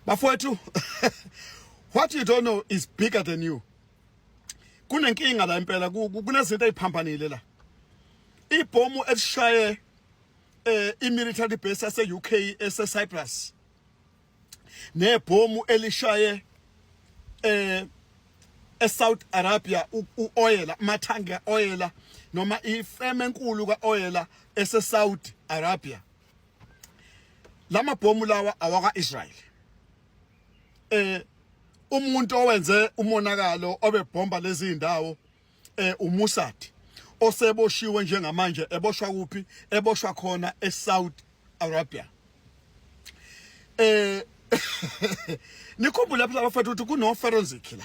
bafowethu what you don't know is bigger than you kunenkinga la impela kunezinto eziphambanile la ibhomu elishaye eh imilitary base yase UK ese Cyprus nebhomu elishaye eh eSouth Arabia uoyela mathangi kaoyela noma ifeme enkulu kaoyela eseSaudi Arabia lama bhomu lawa awaka Israel eh umuntu owenze umonakalo obebhomba lezi ndawo eh uMossad oseboshiwe njengamanje eboshwa kuphi eboshwa khona eSouth Arabia eh nikhumbule lapha bafethu ukuthi kuno forensic la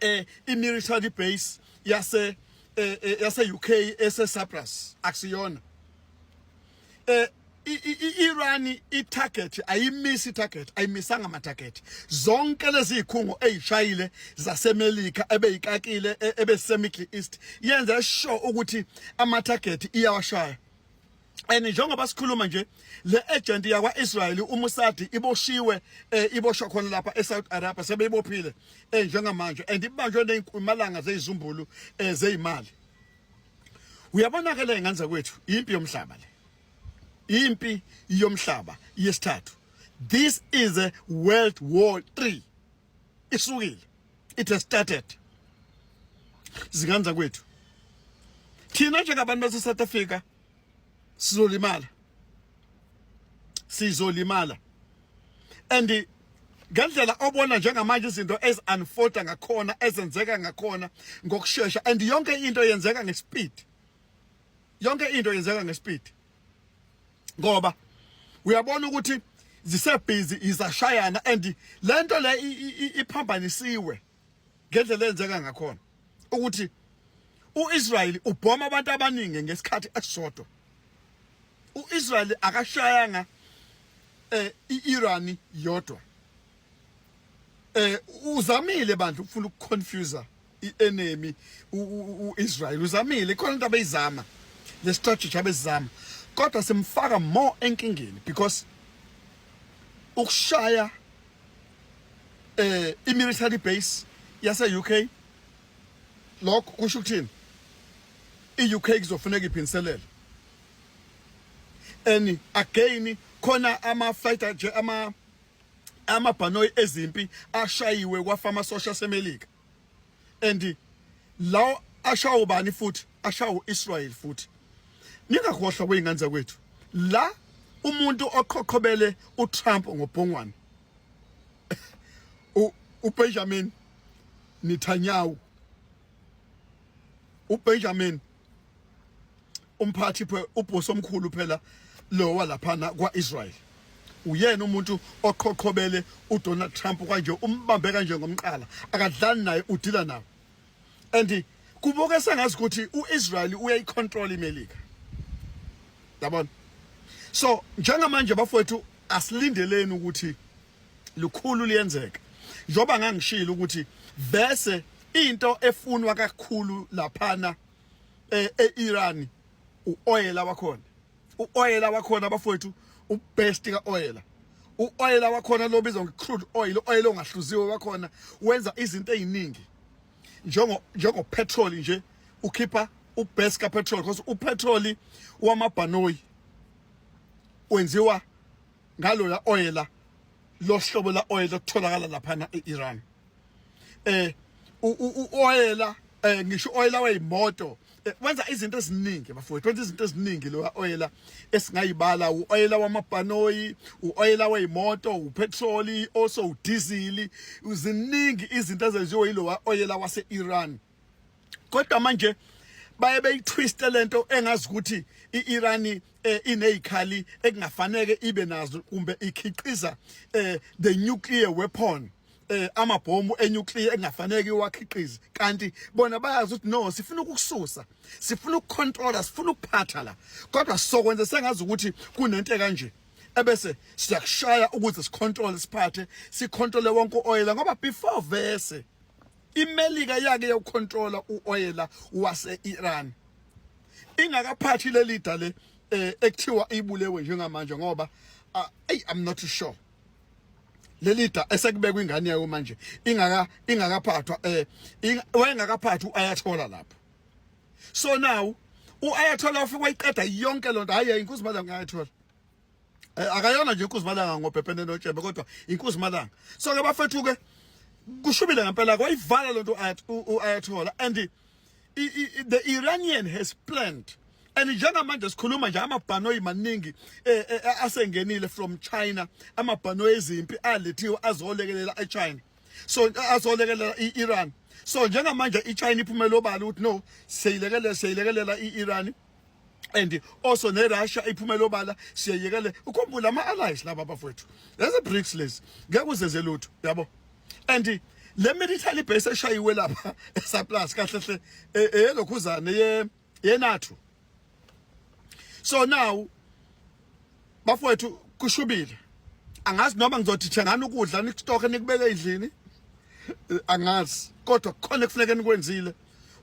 eh imilitary base yase eh, eh, yase UK ese Cyprus akusiyona eh iIran itarget ayimisi target ayimisanga ama target zonke lezi zikhungo ezishayile zaseMelika ebeyikakile e, ebese Middle East yenza sure ukuthi ama target iyawashaya and njengoba sikhuluma nje le agent yakwa Israel uMusadi iboshiwe eh, iboshwa khona lapha eSouth Arabia sebeyibophile eh, njengamanje and ibanjwe nezimalanga zezizumbulu eh, zeimali uyabona ke le nganza kwethu impi yomhlaba le impi yomhlaba yesithathu this is a world war 3 isukile it has started zingane zakwethu thina njengabantu base South Africa sizolimala sizolimala and ngendlela obona njengamanje izinto eziunfolda ngakhona ezenzeka ngakhona ngokusheshsha and yonke into yenzeka ngespeed yonke into yenzeka ngespeed ngoba uyabona ukuthi zisebhizi izashayana and lento le iphambanisiwe ngendlela enzeka ngakhona ukuthi uIsrael ubhoma abantu abaningi ngesikhathi esisodwa uIsrael akashayanga eh iIran yodwa eh uzamile bandla ukufuna ukuconfuser i-enemy u-israyeli uzamile ikhona into abeyizama le strategy abezizama kodwa simfaka more enkingeni because ukushaya eh i-military base yase-uk lokho kusho ukuthini i-uk kuzofuneka iphindiselele and again khona ama-fighter ama amabhanoyi ezimpi ashayiwe kwafa amasosha asemelika and lawo ashawo bani futhi ashawo Israel futhi ningakhohlwa kweyingane zakwethu la umuntu oqhoqhobele uTrump ngobhongwane uBenjamin Netanyahu uBenjamin umphathi ubhosi omkhulu phela lowa laphana kwa-israyeli uyena umuntu oqhoqhobele udonald trump kwanje umbambe kanje ngomqala akadlali naye udila nawo and kubuke sengazi ukuthi u-israyeli uyayicontrol imelika yabona so njengamanje bafowethu asilindeleni ukuthi lukhulu liyenzeka njengoba ngangishilo ukuthi vese into efunwa kakhulu laphana eh, e-Iran uoyela wakhona uoyela wakhona bafowethu ubest ka oyela uoyela wakhona lobizwa ngecrude oil oil ongahluziwe wakhona wenza izinto eziningi njengo njengo petrol nje ukhipha ubest ka petrol because upetrol wamabhanoyi wenziwa ngaloya oyela lohlobo la oyela kutholakala laphana e-Iran eh uoyela eh ngisho oyela weyimoto eh, wenza izinto eziningi bafowethu wenza izinto eziningi lo oyela esingayibala uoyela wamabhanoyi uoyela weyimoto upetrol also udiesel uziningi izinto ezenziwe yilowa oyela wase-Iran kodwa manje baye beyitwiste lento engazi ukuthi iIran eh, inezikhali ekungafanele ibe nazo kumbe ikhiqiza eh, the nuclear weapon eh amabhomu enuclear engafanele iwakhiqize kanti bona bayazi ukuthi no sifuna ukukususa sifuna ukucontrola sifuna ukuphatha la kodwa sokwenza sengazi ukuthi kunento kanje ebese siyakushaya ukuze sicontrol siphathe sicontrol wonke oil ngoba before verse IMelika yake yokucontrola uoyela wase-Iran ingakaphathi leli da le eh, ekuthiwa ibulewe njengamanje ngoba ah, ay I'm not sure leli da esekubekwa ingane yayo manje ingaka ingakaphathwa eh wayengakaphathi uayathola lapho so now uayathola ufike wayiqeda yonke lonto hayi inkosi madam ngayathola Eh, akayona nje inkosi malanga ngobhebhene notshebe kodwa inkosi malanga so ke bafethu ke kushubile ngempela kwayivala lento ayathola and the Iranian has planned and njengamanje sikhuluma nje amabhanoyi maningi eh, eh, eh, asengenile from China amabhanoyi ezimpi alethiwe azolekelela eChina so azolekelela iIran so njengamanje iChina iphumela obala ukuthi no seyilekelela seyilekelela iIran and also nerussia iphumele obala siyeyekele ukhumbula ama-allies laba bafowethu lezi bricks lezi ngeke uzeze lutho yabo and le military base eshayiwe lapha esaplus kahle hle e, eyelokhuzane yenathu so now bafowethu kushubile angazi noma ngizothi thengani ukudla nikustoke nikubeke endlini eh, angazi kodwa kukhona ekufuneka nikwenzile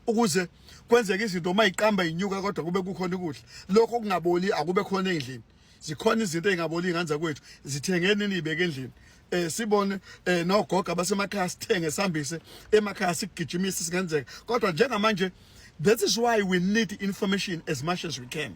ukuze kwenzeke izinto uma iqamba inyuka kodwa kube kukhona ukudla lokho okungaboli akube khona endlini zikhona izinto ezingaboli ingane zakwethu zithengeni nibeke endlini eh sibone eh nogoga basemakhaya sithenge sihambise emakhaya sigijimise singenzeka kodwa njengamanje that is why we need information as much as we can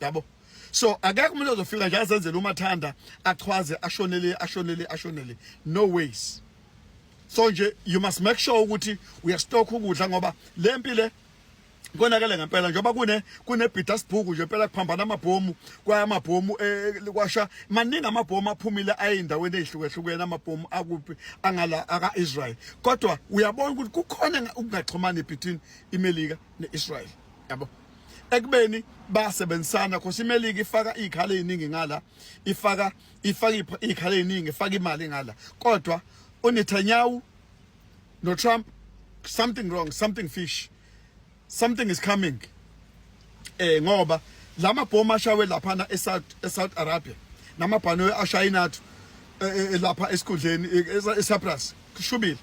yabo so akekho umuntu ozofika nje azenzele umathanda achwaze ashonele ashonele ashonele no ways so nje you must make sure ukuthi uyastock ukudla ngoba le mpilo konakele ngempela njengoba kune kunebhida sibhuku nje impela kuphambana amabhomu kwaya amabhomu eh, eh, kwasha maningi amabhomu aphumile ayindaweni ezihlukehlukene amabhomu akuphi angala aka Israel kodwa uyabona ukuthi kukhona ukungaxhumani between iMelika neIsrael yabo ekubeni basebenzisana cause imelika ifaka iy'khala ey'ningi ngala ifaka ifaka iy'khala ey'ningi ifaka imali ngala kodwa unetanyahu notrump something wrong something fish something is coming eh ngoba la mabhomu ashawe laphana esouth esouth arabia namabhanoyi ashayinathu eh, eh, eh, lapha esikhundleni esaprus kushubile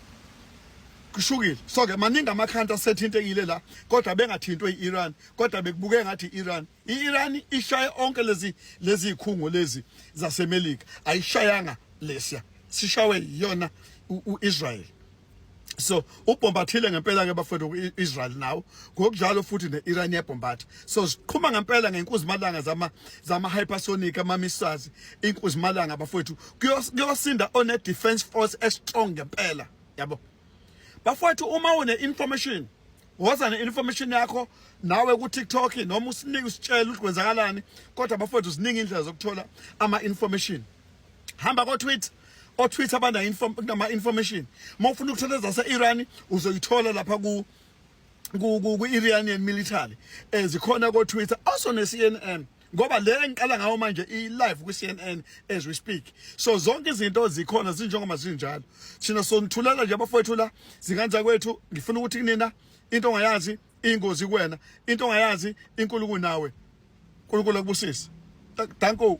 kushukile so ke maningi amakhanta asethintekile la kodwa bengathintwe i-Iran kodwa bekubuke ngathi i-Iran i-Iran ishaye onke lezi lezi khungo lezi zaseMelika ayishayanga lesiya sishawe yiyona uIsrael so ubhombathile ngempela ke bafethu kuIsrael nawo ngokunjalo futhi neIran yebhombatha so siqhuma ngempela ngenkuzimalanga zama zama hypersonic ama missiles inkuzimalanga bafethu kuyosinda one defense force e strong ngempela yabo bafowethu uma une information woza ne information yakho nawe ku TikTok noma usinike usitshela ukuthi kwenzakalani kodwa bafowethu ziningi indlela zokuthola ama information hamba ko Twitter o Twitter abana inform nama information uma ufuna ukuthola zase Iran uzoyithola lapha ku ku Iranian military ezikhona eh, ko Twitter also ne CNN ngoba le engiqala ngawo manje i-live kwi-cnn as we speak so zonke izinto zikhona zinjengoba zinjalo thina sonithulela nje abafowethu la zinganza kwethu ngifuna ukuthi kunina into ongayazi ingozi kuwena into ongayazi inkulu kunawe unkulunkulu akubusise danko